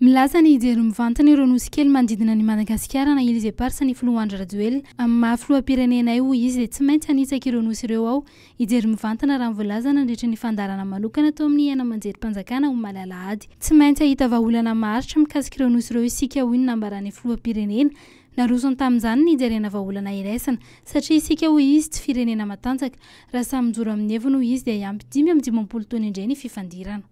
Milaza ny hijery mivantana ireo nosy kely manodidina an'i Madagasikara na Îles Éparses ny filoha Andry Rajoelina. Amin'ny maha filoham-pirenenay, hoy izy, dia tsy maintsy hanitsaka ireo nosy ireo aho, hijery mivantana raha ny voalaza nandritra ny fandaharana manokana tao amin'ny haino aman-jerim-panjakana omaly alahady. Tsy maintsy hahita vahaolana maharitra mikasika ireo nosy ireo isika, hoy ny nambaran'ny filoham-pirenena. Narosony tamin'izany ny hijerena vahaolana iraisana. Satria isika, hoy izy, tsy firenena matanjaka. Raha samy mijoro amin'ny heviny, hoy izy, dia hiampy dimy amby dimampolo taona indray ny fifandirana.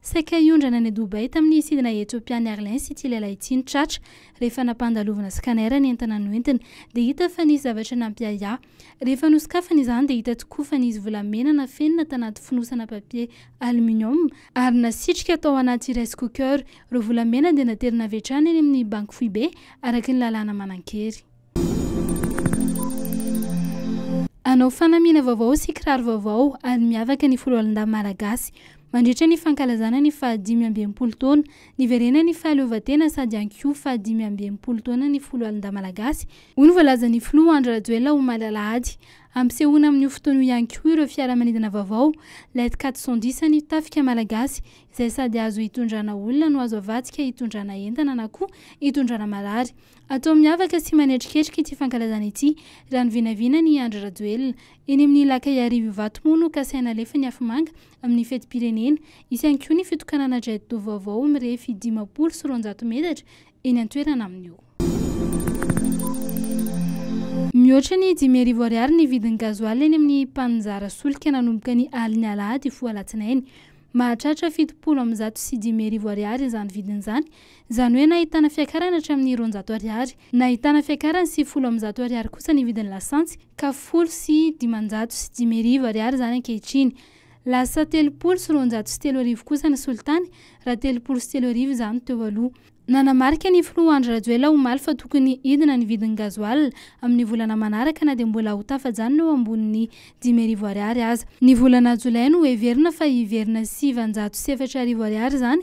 Saika hiondrana any Dubaï tamin'ny sidina Etiopian'i Airlines ity lehilahy ity no tratra, rehefa nampandalovina scanner ny entana noentiny dia hita fa nisy zavatra nampiahiahy. Rehefa nosokafana izany dia hita tokoa fa nisy volamena nafenina tanaty fonosana papier aluminium ary nasitrika tao anaty rice cooker. Ireo volamena dia naterina avy hatrany eny amin'ny banky foibe, araka ny lalàna manan-kery. Hanao fanamiana vaovao sy kiraro vaovao ary miavaka ny Foloalindahy Malagasy. Mandritra ny fankalazana ny fahadimy amby enimpolo taona niverenan'ny fahaleovantena sady ihany koa fahadimy amby enimpolo taonan'ny Foloalindahy Malagasy, hoy ny voalazan'ny Filoha Andry Rajoelina omaly alahady. Ampisehoana amin'io fotoana io ihany koa ireo fiaramanidina vaovao, Let quator cent dix an'io tafika malagasy izay sady azo hitondrana olona no azo avadika hitondrana entana na koa hitondrana marary. Atao miavaka sy manetriketrika ity fankalazana ity raha ny vinavinany i Andry Rajoelina. Eny amin'ny Ilakaiarivo Ivato moa no kasaina alefan'ny afomanga amin'ny fetim-pirenena. Hisy ihany koa ny fitokanana jet do vaovao mirefy dimampolo sy roanjato metatra eny an-toerana amin'io. Mihoatra ny dimy arivo ariary ny vidin'ny gazoala eny amin'ny mpaninjara solika nanomboka ny alin'ny alahady hifoha alatsinainy. Mahatratra fitopolo amby zato sy dimy arivo ariary izany vidiny izany Izany hoe nahitana fiakarana hatramin'ny roanjato ariary. Nahitana fiakarany sy folo amby zato ariary kosa ny vidin'ny lasantsy ka folo sy dimanjato sy dimy arivo ariary izany ankehitriny. Lasa telopolo sy roanjato sy telo arivo kosa ny solitany raha telopolo sy telo arivo izany teo aloha. Nanamarika ny filoha Andry Rajoelina omaly fa tokony hidina ny vidin'ny gazoala amin'ny volana manaraka na dia mbola ho tafajanona eo ambonin'ny dimy arivo ariary aza. Ny volana jolay no heverina fa hiverina sivanjato sy efatra arivo ariary izany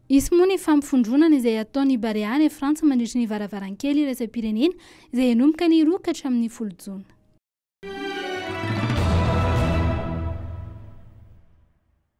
Hisy moa ny fampifondronana izay hataon'ny Barea any Frantsa mandritry ny varavarankely iraisam-pirenena izay hanomboka ny roa ka hatramin'ny folo jona.